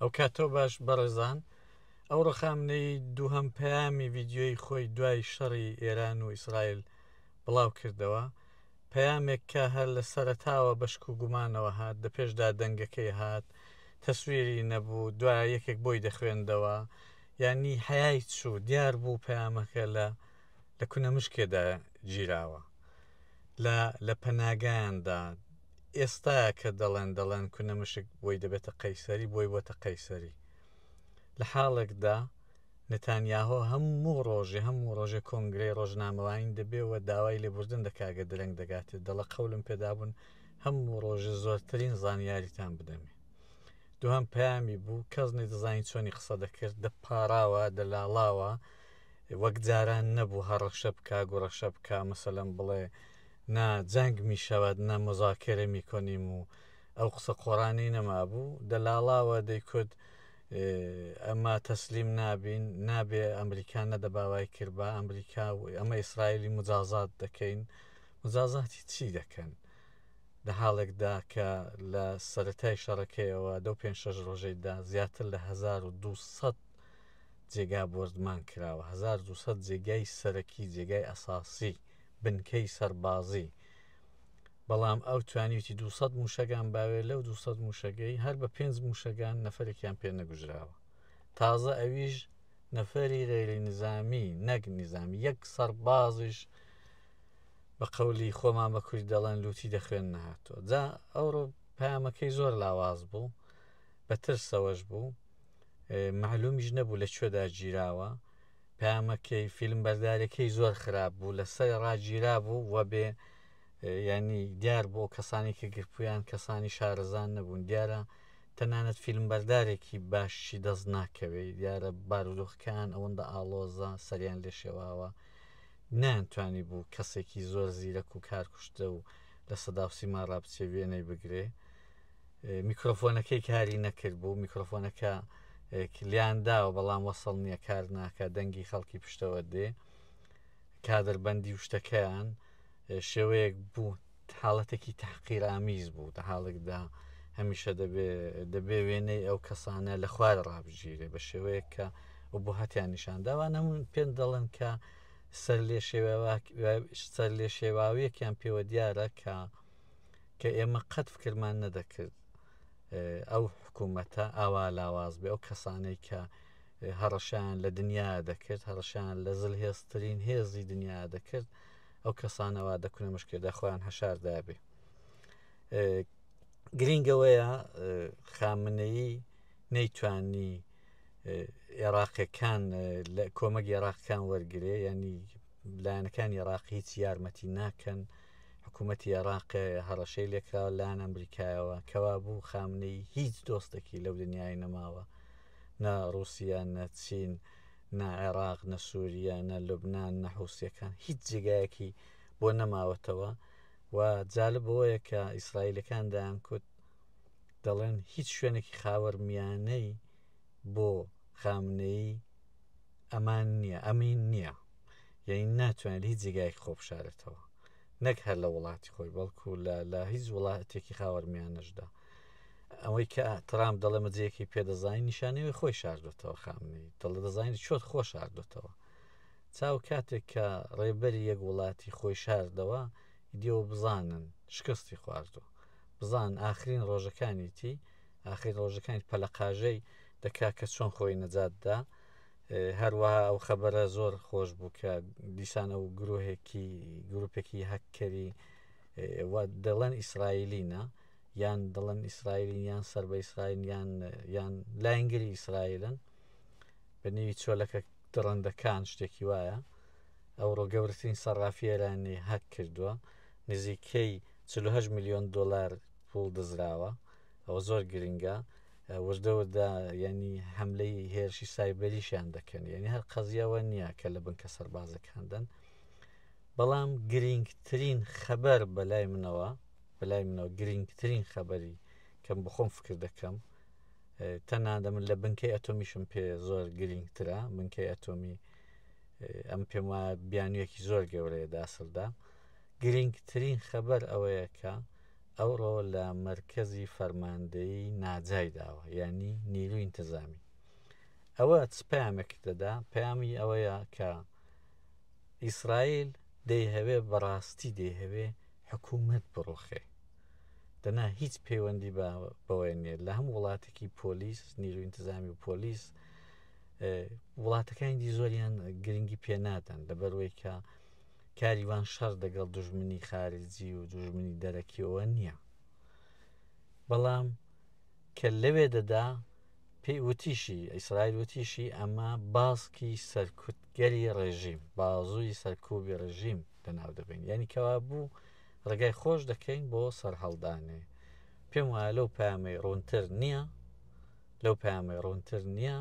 ئەو کاتەوە باش بەڕێزان ئەو ڕخامنەی دووهەم پەیامی ڤیددیۆی خۆی دوای شەڕی ئێران و ئیسرائیل بڵاو کردەوە پەیامێک کە هەر لە سەرتاوە بەشک و گومانەوە هات دە پێشدا دەنگەکەی هات تەسویری نەبوو دوای یەکێک بۆی دەخوێندەوە یانی حەیای چوو دیار بوو پەیامەکە لە لە کونەمشکێدا گیراوە لە لە پەناگایاندا ئێستا کە دەڵێن دەڵێن کونە مشک بۆی دەبێتە قەیسەری بۆی بۆتە قەیسەری لە حاڵێکدا نتانیاهۆ هەموو ڕۆژێ هەموو ڕۆژێ کۆنگرەی ڕۆژنامەوانین دەبێەوە داوای لێبوردن دەکگە درەنگ دەگاتێت دەڵە قەولم پێدابوون هەموو ڕۆژە زۆرترین زانیاریتان بدەمێ دوهام پامی بوو کەس نەدەزانین چۆنی قسە دەکرد دەپاراوە دەلاڵاوە وەک جاران نەبوو هە ڕەخشە بکا گوڕەخشە بکا مەسەلەن بڵێ نا جەنگ می شەوەد نە مزاکرە می کۆنیم و ئەو قسە قۆڕانەی نەمابوو دەلاڵاوە دەیکوت ئەمە تەسلیم نابین نابێ ئەمریکا نەدەباوای کرد بە ئەمریکا و ئەمە ئیسرائیلی مجازات دەکەین مجازاتی چی دەکەن لە حاڵێکدا کە لە سەتای شەڕەکەیەوە دە پێ شەش ڕۆژەیدا زیاتر لە 1200 جێگا بۆردمان کراوە هەزار و دوو سەد جێگای سەرەکی جێگای ئەساسی بنکەی سەربازی بەڵام ئەو توانیوتی 200 موشەگان باوێ لەو 200 موشەگەی هەر بە پێنج موشەگان نەفرێکیان پێ نەگوژراوە تازە ئەویش نەفری غێری نزامی نەک نزامی یەک سەربازیش بە قەولی خۆمان بە کوری دەڵێن لوتی دەخوێن نهاتۆ جا ئەوڕۆ پامەکەی زۆر لاواز بوو بە ترسەوەش بوو مەعلومیش نەبوو لە کوێدا گیراوە پامەکەی فیلم بەردارەکەی زۆر خراپ بوو لە سەر ڕاگیرا بوو وە بێ ینی دیار بۆ کەسانی کە گرپویان کەسانی شارەزان نەبوون دیارە تەنانەت فیلم بەردارێکی باشی دەست ناکەوێت دیارە بارودۆخکان ئەوەندە ئاڵۆزە سەریان لێ شێواوە نانتوانی بوو کەسێکی زۆر زیرەک و کارکوشتە و لە سەداوسی ماڕابچێ وێنەی بگرێ میکرۆفۆنەکەی کاری نەکرد بوو میکرۆفۆنەکە کلیان داوە بەڵام وەسەڵ نییە کار ناکە دەنگی خەڵکی پشتەوە دێ کادربندی و شتەکەیان شێوەیەک بوو حاڵەتێکی تحقیرامیز بوو دە حاڵێکدا هەمیشە دەبێ دەبێ وێنەی ئەو کەسانە لە خوار ڕابگیرێ بە شێوەیەک کە و بۆ هەتیان نیشان داوا نەمون پێن دەڵێن کە سەر لێ سەر لێ شێواویەکیان پێوە دیارە کە کە ئێمە قەت فکرمان نەدەکرد ئەو حکوومەتە ئاوا لاواز بێ ئەو کەسانەی کە هەڕەشیان لە دنیا دەکرد هەڕەشیان لە زل هێزترین هێزی دنیا دەکرد ئەو کەسانەوە دەکونە مشکێدا خۆیان هەشاردا بێ گرنگەوەیە خامنەیی نەیتوانی عێراقەکان لە کۆمەک عێراقکان وەرگێ ینی لایەنەکان عێراق هیچ یارمەتی ناکەن. حکومەتی ئێڕاق هەڕەشەی لێکراوە لەلایەن ئەمریکایەوە کەوابوو خامنەی هیچ دۆستێکی لەو دنیای نەماوە نە ڕووسیا نە چین نە عێراق نە سووریە نە لوبناان نە حوسەکان هیچ جێگایەکی بۆ نەماوەتەوە و جالب بۆیە کە ئیسرائیلەکان دایان کوت دەڵێن هیچ شوێنێکی خاوەر میانەی بۆ خامنەی ئەمان نییە ئەمین نییە یەعنی ناتوانێت لە هیچ جێگایەک خۆ بشارێتەوە نەک هەر لە وڵاتی خۆی بەڵکو لە لە هیچ وڵاتێکی خاوەرمیانەشدا ئەوەی کە ترام دەڵێ مەجەیەکی پێدەزانانی نیشانەوەی خۆی شاردوێتەوە خامنەی دڵە دەزانانی چۆت خۆ شاردوێتەوە چاو کاتێک کە ڕێبەری یەک وڵاتی خۆی شاردەوە دیەوە بزانن شکستی خواردوە بزان ئاخرین ڕۆژەکانیتی ئاخرین ڕۆژەکانی پەلەقاژەی دەکا کە چۆن خۆی نەجاتدا هەروەها ئەو خەبەرە زۆر خۆش بوو کە دیسان ئەو گرۆهێکی گروپێکی هەککەری دەڵێن ئیسرائیلینە یان دڵن ئیسرائیلین یان سەر بە ئیسرائیل یان یان لاینگری ئیسرائیلن بە نێوی چۆلەکە دڕندەکان شتێکی وایە ئەو ڕۆگەورترین سەرافی ئێرانی هەک کردووە نزیکەی 48 میلیۆن دلار پول دزراوە ئەوە زۆر گرنگە وردە وردە یانی حملەی هێرشی سایبەریشیان دەکەن یعنی هەر قەزیەوە نییە کە لە بنکە سەربازەکاندن بەڵام گرنگترین خەبەر بەلای منەوە بەلای منەوە گرنگترین خەبەری کەم بخۆم فکر دەکەم تەنادە من لە بنکەی ئەتۆمیشم پێ زۆر گرنگترە بنکەی ئەتۆمی ئەم پێم وایە بیانویەکی زۆر گەورەیە داسەلدا گرنگترین خەبەر ئەوەیە کە ئەوڕۆ لە مەرکەزی فەرماندەیی ناجای داوە یعنی نیروی انتظامی ئەوە چ پامێک دەدا پامی ئەوەیە کە ئیسرائیل دەیهەوێ بەڕاستی دەیهەوێ حکوومەت بڕۆخێ دەنا هیچ پەیوەندی بەوەی نیە لە هەم وڵاتێکی پۆلیس نیرو انتظامی و پۆلیس وڵاتەکانی دی زۆریان گرنگی پێنادەن لەبەروەی کە کاریوان شەڕ دەگەڵ دوژمنی خارجی و دوژمنی دەرەکیەوە نییە بەڵام کە لەوێ دەدا پێی وتیشی ئیسرائیل وتیشی ئەمە باسکی سەرکوتگەری ڕێژیم بازووی سەرکوبی ڕژیم لەناو دەبین یعنی کەوا بوو ڕێگای خۆش دەکەین بۆ سەرهەڵدانێ پێم وایە لەو پامەی ڕوونتر نییە لەو پامەی ڕوونتر نییە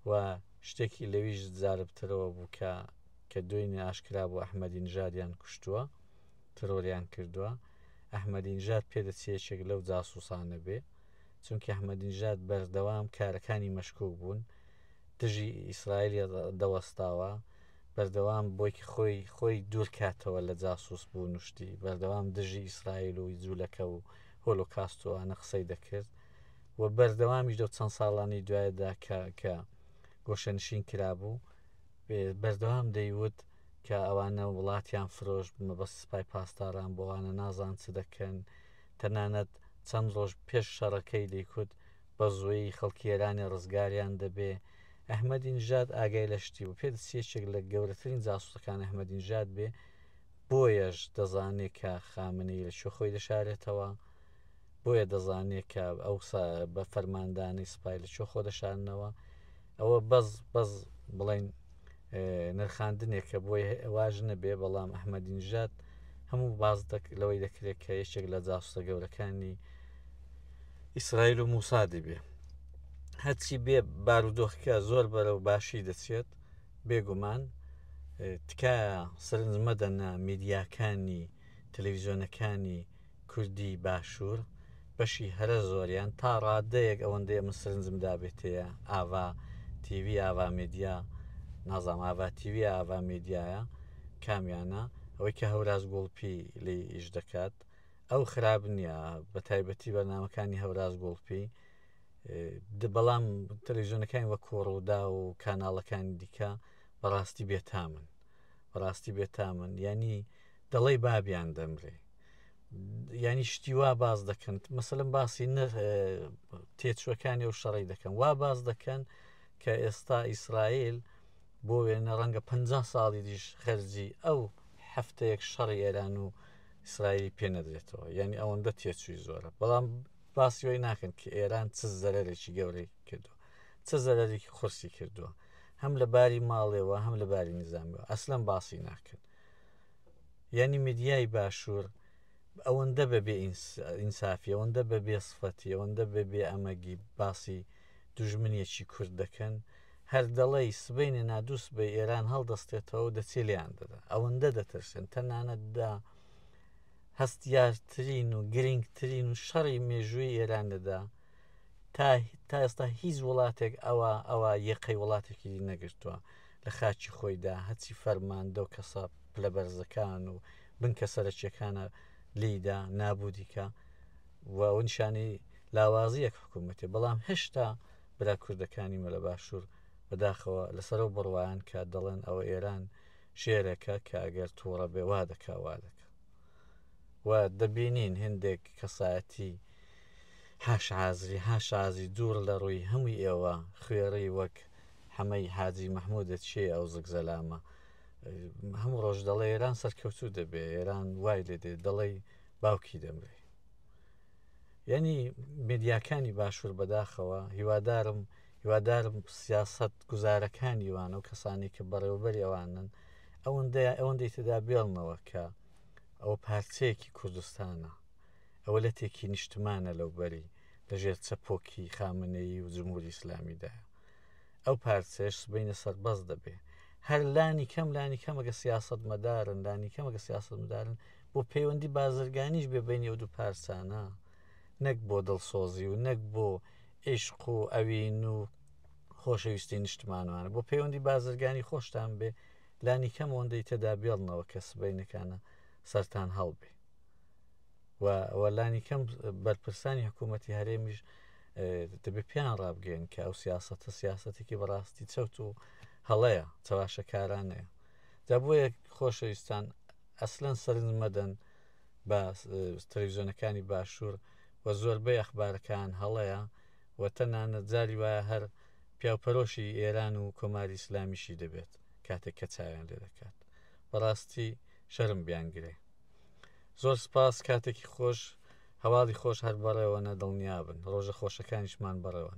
و شتێکی لەویش زاربترەوە بوو کە کە دوێنێ ئاشکرا بوو ئەحمەدی نژادیان کوشتووە، ترۆریان کردووە، ئەحمەدی نژاد پێدەچێ یەکێک لەو جاسووسانە بێ، چونکی ئەحمەدی نژاد بەردەوام کارەکانی مەشکووک بوون، دژی ئیسرائیل دەوەستاوە، بەردەوام بۆی کە خۆی خۆی دوور کاتەوە لە جاسووس بوون و شتی، بەردەوام دژی ئیسرائیل و جوولەکە و هۆلۆکاست و ئەوانە قسەی دەکرد و بەردەوامیش لەو چەند ساڵانەی دوایدا کە کە گۆشەنشین کرابوو، بەردەوام دەیوت کە ئەوانە وڵاتیان فرۆشت مەبەست سپای پاسداران بوو ئەوانە نازان چ دەکەن تەنانەت چەند ڕۆژ پێش شەڕەکەی دەیکوت بە زوویی خەڵکی ئێرانێ ڕزگاریان دەبێ ئەحمەدی نژاد ئاگای لە شتی بوو پێ دەچی یەکێک لە گەورەترین جاسوسەکان ئەحمەدی نژاد بێ بۆیەش دەزانێ کە خامنەی لە کوێ خۆی دەشارێتەوە بۆیە دەزانێ کە ئەو بە فەرماندانەی سپای لە کوێ خۆ دەشارنەوە ئەوە بەس بەس بڵین نرخاندنێکە بۆی واژ نەبێ بەڵام ئەحمەدینژات هەموو باز لەوەی دەکرێت کە یەکێک لە جاسوسە گەورەکانی ئیسرائیل و موسا دەبێ هەرچی بێ بارودۆخکە زۆر بەرە و باشی دەچێت بێگومان تکایە سرنج مەدەنە میدیاکانی تەلەویزیۆنەکانی کوردی باشوور بەشی هەرە زۆریان تا ڕادەیەک ئەوەندەی ئەمن سرنجم دابێتەیە ئاڤا تیوی ئاڤا میدیا نازام ئاڤا تیوی ئاڤا میدیایە کامیانە ئەوەی کە هەوراز گوڵپی لی ئیش دەکات ئەو خراپ نییە بە تایبەتی بەرنمەکانی هەوراز گوڵپی بەڵام تەلویزیۆنەکانی وە کۆڕوودا و کاناڵەکانی دیکە بەڕاستی بێتامن بەڕاستی بێتامن ینی دەڵی بابیان دەمرێ ینی شتی وا باز دەکەن مەسلم باسی نە تێچوەکانی و شەڕی دەکەن وا باز دەکەن کە ئێستا ئیسرائیل بۆ وێنە ڕەنگە پ ساڵی دیش خەرجی ئەو هەفتەیەک شەڕی ئێران و ئیسرائیلی پێ نەدرێتەوە یعنی ئەوەندە تێچووی زۆرە بەڵام باسی وی ناکەن کە ئێران چ زەرێکی گەورەی کردو چ زەرێکی قورسی کردووە هەم لە باری ماڵێەوە هەم لە باری نظامەوە ئەسلم باسی ناکەن یانی میدیای باشوور ئەوەندە بە بێ ئینسافی ئەوەندە بە بێ سفەتی ئەوەندە بە بێ ئەمەگی باسی دوژمنیەکی کورد دەکەن هەر دەڵی سبینێ نادووس بە ئێران هەڵدەستێتەوە دەچێ لیان دەدا ئەوەندە دەترسێن تەنانەتدا هەستیارترین و گرنگترین و شەڕی مێژووی ئێران دەدا تا تا ئێستا هیچ وڵاتێک ئەوە ئەوە یەقەی وڵاتێکی نەگرتووە لە خاچی خۆیدا هەچی فەرماندە و کەسە پلە بەرزەکان و بنکە سەرەکیەکانە لیدا نابودیکە و نیشانی لاوازی یەک حکوومەتی بەڵام هێشتا برا کوردەکانی مەلە باشوور بەداخەوە لەسەرەوە بڕوایان کە دەڵێن ئەوە ئێران شێرەکە کە ئەگەر تووڕە بێوا دەکاوا دەکە و دەبینین هندێک کەسایەتی حاشازری حاشازی دوور لە ڕووی هەمووی ئێوە خوێڕی وەک حەمەی حاجی مەحمودە چێ ئەو زگ زەلامە هەموو ڕۆژ دەڵێ ئێران سەرکەوتوو دەبێ ئێران وای لێ دێ دەڵێ باوکی دەمرێ یعنی میدیاکانی باشوور بەداخەوە هیوادارم هیوادارم سیاست گوزارەکانی وانە و کەسانی کە بەڕێوەبەری ئەوانن ئەوەندە ئەوەندەی تدا بێڵنەوە کە ئەوە پارچەیەکی کوردستانە ئەوە لە تێکی نیشتمانە لەو بەری لە ژێر چەپۆکی خامنەیی و جمهوری ئیسلامیدا ئەو پارچێش سبینە سەربەز دەبێ هەر لانی کەم لانی کەمەگە سیاست مەدارن لانی کەمەگە سیاست مدارن بۆ پەیوەندی بازرگانیش بێ بینی و دوو پارسانە نەک بۆ دڵسۆزی و نەک بۆ عیشق و ئەوین و خۆشەویستی نیشتمانوانە بۆ پەیوەندی بازرگانی خۆشتان بێ لانی کەم ئەوەندەی تێدا بێڵنەوە کە سبەینەکانە سەران هەڵبێ و ئەوە لانی کەم بەرپرسانی حکوومەتتی هەرێمیش دەبێ پیان ڕابگەن کە ئەو سیاستە سیاستێکی بەڕاستی چەوت و هەڵەیە چەواشەکارانەیە دا بۆیە خۆشەویستان ئەسلەن سەرنج مەدەن بە تەلویزیۆنەکانی باشوور و زۆربەی ئەخبارەکان هەڵەیە و تەنانە جاری وایە هەر پیاوپەرۆشی ئێران و کۆماری ئیسلامیشی دەبێت کاتێک کە چاویان لێ دەکات بەڕاستی شەرم بیان گرێ زۆر سپاس کاتێکی خۆش هەواڵی خۆش هەر بەڕێوەە دڵنیابن ڕۆژە خۆشەکانیشمان بەڕێوەە